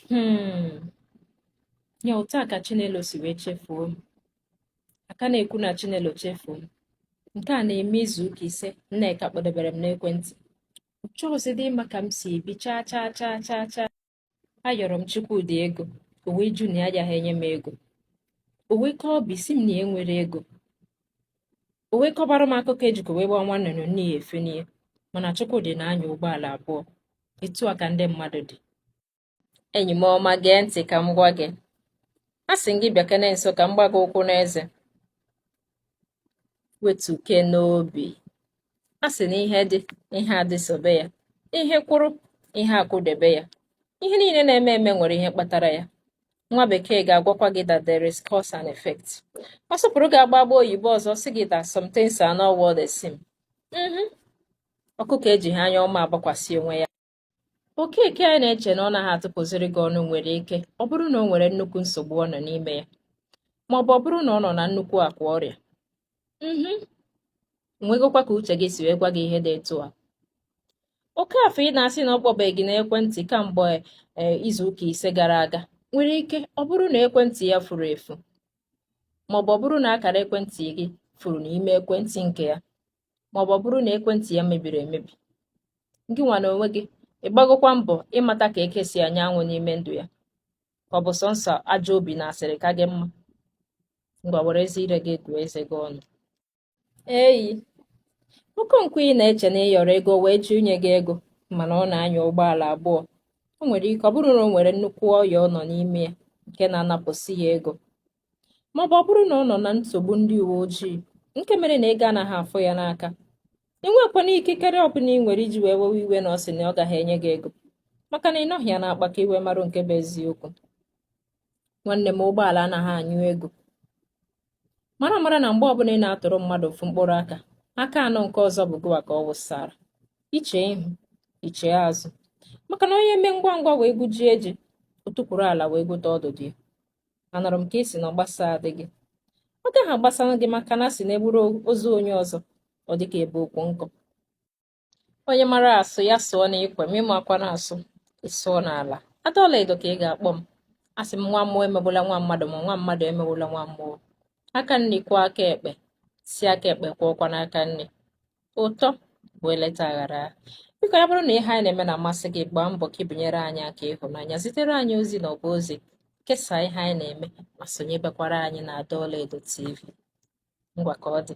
Hmm. Ya otu a ka Chinelo si wee chefuo m. A ka na-ekwu na Chinelo chefuo m. Nke a na-eme izu ụka ise Nneka kpọdebere m n'ekwentị. Ọ chọghịzịdị ịma ka m si ebi chaa chaa chaa chaa chaa. Ayọrọ m Chukwudi ego, o wee jụ na ya agaghị enye m ego. O wee kaa obi sị m na ya enwerọ ego. O wee kọbara m akụkọ ejikọ wee gbaa nwa nnụnụ nne ya efenie mana Chukwudi na-anya ụgbọala abụọ etu a ka ndị mmadụ dị enyi m ọma gee ntị ka m gwa gị a sị gị bịakene nso ka m gbaa gị ụkwụ n'eze wetukene obi a sị na ihe dị ihe adịsobe ya ihe kwụrụ ihe akwụdebe ya ihe niile na-eme eme nwere ihe kpatara ya nwa bekee ga-agwakwa gị that there is cause and effect ọ sụpụrụ gị agba agba oyibo ọzọ sị gị that some things are not what they seem mm-hmm. ọkụkọ ejighị anya ọma agbakwasị onwe ya Okeke a ị na-eche na ọ naghị atụpụziri gị ọnụ nwere ike ọ bụrụ na o nwere nnukwu nsogbu ọ nọ n'ime ya ma ọ bụ ọ bụrụ na ọ nọ na nnukwu akwa ọrịa mhm. nwegokwa ka uche gị si wee gwa gị ihe dị etu a Okafọ ị na-asị na ọ kpọbeghị gị n'ekwentị kamgbe e, izuụka ise gara aga nwere ike ọ bụrụ na ekwentị ya furu efu maọbụ ọ bụrụ na akara ekwentị gị furu n'ime ekwentị nke ya maọbụ ọ bụrụ na ekwentị ya mebiri emebi gị nwa na onwe gị ị gbagokwa mbọ ịmata ka eke si anya anwụ n'ime ndụ ya ka ọ bụ sọnsọ ajọ obi na asịrị ka gị mma ngwa werezi ire gị gụọ eze gị ọnụ eyi Okonkwo ị na-eche na ị yọrọ ego o wee jụ inye gị ego mana ọ na-anya ụgbọala abụọ o nwere ike ọ bụrụ na o nwere nnukwu ọya ọ nọ n'ime ya nke na-anapụsị ya ego maọbụ ọ bụrụ na ọ nọ na nsogbu ndị uwe ojii nke mere na ego anaghị afọ ya n'aka ị nwekwana ikikere ọbụla ị nwere iji wee wewe iwe na ọ sị na ọ gaghị enye gị ego maka na ị nọghị ya n'akpa ka i wee marụ nke bụ eziokwu nwanne m ụgbọala anaghị anyụ ego mara mara na mgbe ọbụla ị na-atụrụ mmadụ ofu mkpụrụ aka aka anọ nke ọzọ bụ gụwa ka ọ wụsara iche ihu iche azụ maka na onye mee ngwa ngwa wee gwujie ji o tukwuru ala wee gwute ọdụdụ ya anụrụ m ka ị sị na ọ gbasadịghị gị ọ gaghị agbasara gị maka na a sị na e buru ozu onye ọzọ ọ dị ka e bu ukwu nkụ onye mara asụ ya sụọ n'ikwe ma ị maghịkwanụ asụ ị sụọ n'ala adọla edo ka ị ga-akpọ m asị m nwa mmụọ emegbula nwa mmadụ ma nwa mmadụ emegbula nwa mmụọ aka nri kwọọ aka ekpe sị aka ekpe kwọọkwanụ aka nri ụtọ bụ eleta aghara biko ya bụrụ na ihe anyị na-eme na-amasị gị gbaa mbọ ka i bunyere anyị aka ịhụnanya zitere anyị ozi n'ọba ozi kesaa ihe anyị na-eme ma sonyebekwara anyị na Ada Ọlaedo TV ngwa ka ọ dị